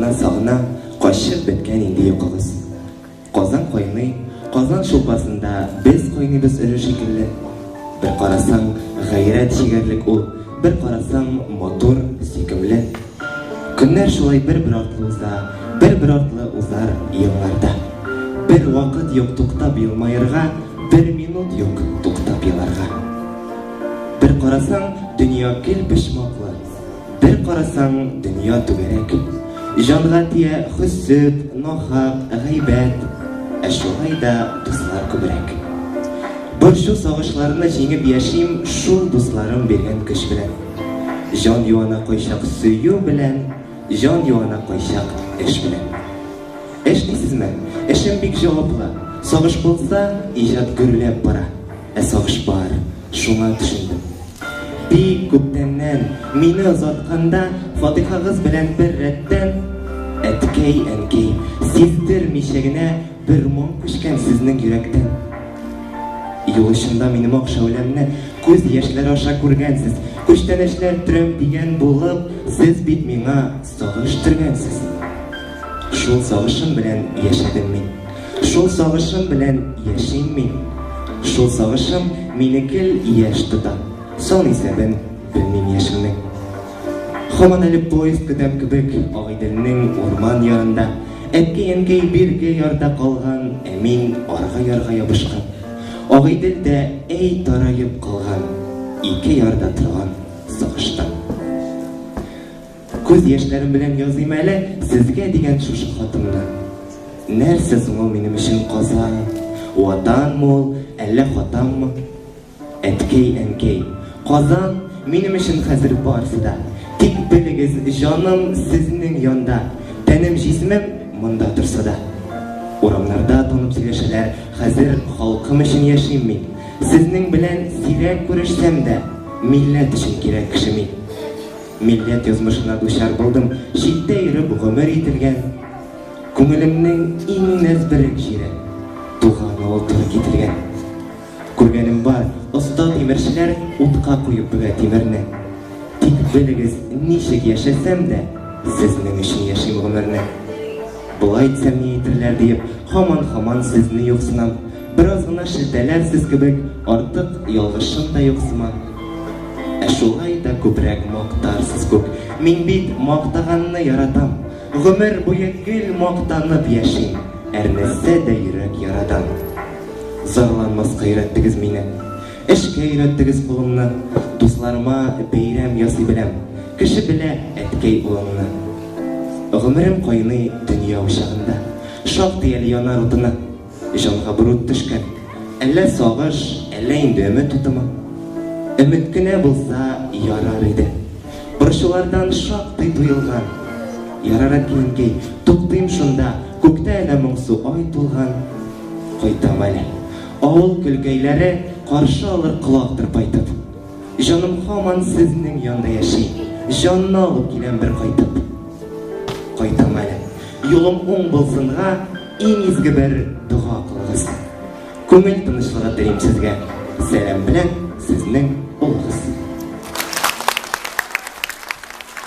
Сагына сагына качып беткән инде йокыгыз. Казан кайный, казан шулпасында без кайныйбыз өле шикелле. Бер карасаң, гайрәт чигәрлек ул, бер карасаң, матур, сөйкемле. Көннәр шулай бер-бер артлы уза, бер-бер артлы узар елларда. Бер вакыт юк туктап елмаерга, бер минут юк туктап еларга. Бер карасаң, дөнья гел почмаклы. Бер карасаң, дөнья түгәрәк. Җанга тия хөсет, нахак, гайбәт. Ә шулай да дуслар күбрәк. Борчу, сагышларны җиңеп яшим Шул дусларым биргән көч белән. Җан юана кайчак сөю белән, Җан юана кайчак эш белән. Эш дисезме? Эшем бик җаваплы. Сагыш булса, иҗат гөрләп бара. Ә сагыш бар, шуңа төшендем. Бик күптәннән, мине озатканда, фатихагыз белән бер рәттән, әткәй, әнкәй, сиздермичә генә бер моң күчкән сезнең йөрәктән. Юл очында минем ак шәүләмне күз яшьләре аша күргәнсез. Күчтәнәчләр төрәм дигән булып, сез бит миңа сагыш төргәнсез. Шул сагышым белән яшәдем мин. Шул сагышым белән яшим мин. Шул сагышым мине кел яшь тота. Сон исәбен белмим яшемнең. Хаман әле поезд көтәм кебек Агыйделнең урман ярында. Әткәй-әнкәй бирге ярда калган, ә мин арга ярга ябышкан. Агыйдел дә әй тараеп калган, ике ярда торган сагыштан. Күз яшьләрем белән языйм әле Сезгә дигән шушы хатымны. Нәрсә соң ул минем өчен каза? Ватанмы ул, әллә хатаммы? Әткәй, әнкәй, Казан минем өчен хәзер барсы да. Тик белегез, җаным сезнең янда, тәнем җисемем монда торса да. Урамнарда танып сөйләшәләр, хәзер халкым өчен яшим мин. Сезнең белән сирәк күрешсәм дә, милләт өчен кирәк кеше мин. Милләт язмышына дучар булдым, читтә йөреп гомер ителгән. Күңелемнең иң нәзберек җире, туган авыл туры кителгән. Күргәнем бар, оста тимерчеләр утка куеп бөгә тимерне. Тик белегез, ничек яшәсәм дә, сезнең өчен яшим гомерне. Болай итсәм ни әйтерләр диеп, һаман-һаман сезне юксынам. Бераз гына шелтәләрсез кебек, артык ялгышым да юк сыман. Ә шулай да күбрәк мактарсыз күк. Мин бит мактаганны яратам. Гомер буе гел мактанып яшим. Әрнетсә дә йөрәк ярадан. Зарланмаска өйрәттегез мине. Эшкә өйрәттегез кулымны. Дусларыма бәйрәм ясый беләм. Кеше белә әткәй улыңны. Гомерем кайный дөнья учагында. Шактый әле янар утына. Җанга борын төшкән. Әллә сагыш, әллә инде өмет утымы? Өмет кенә булса, ярар иде. Борчулардан шактый туелган. Ярар, әткинкәй, туктыйм шунда, Күктә әнә моңсу ай тулган. Кайтам әле. Авыл көлкәйләре Каршы алыр колак тырпайтып. Җаным һаман сезнең янда яши, Җанны алып киләм бер кайтып. Кайтам әле. Юлым уң булсынга. Иң изге бер дога кылыгыз. Күңел тынычлыгы телим сезгә. Сәлам белән сезнең улыгыз.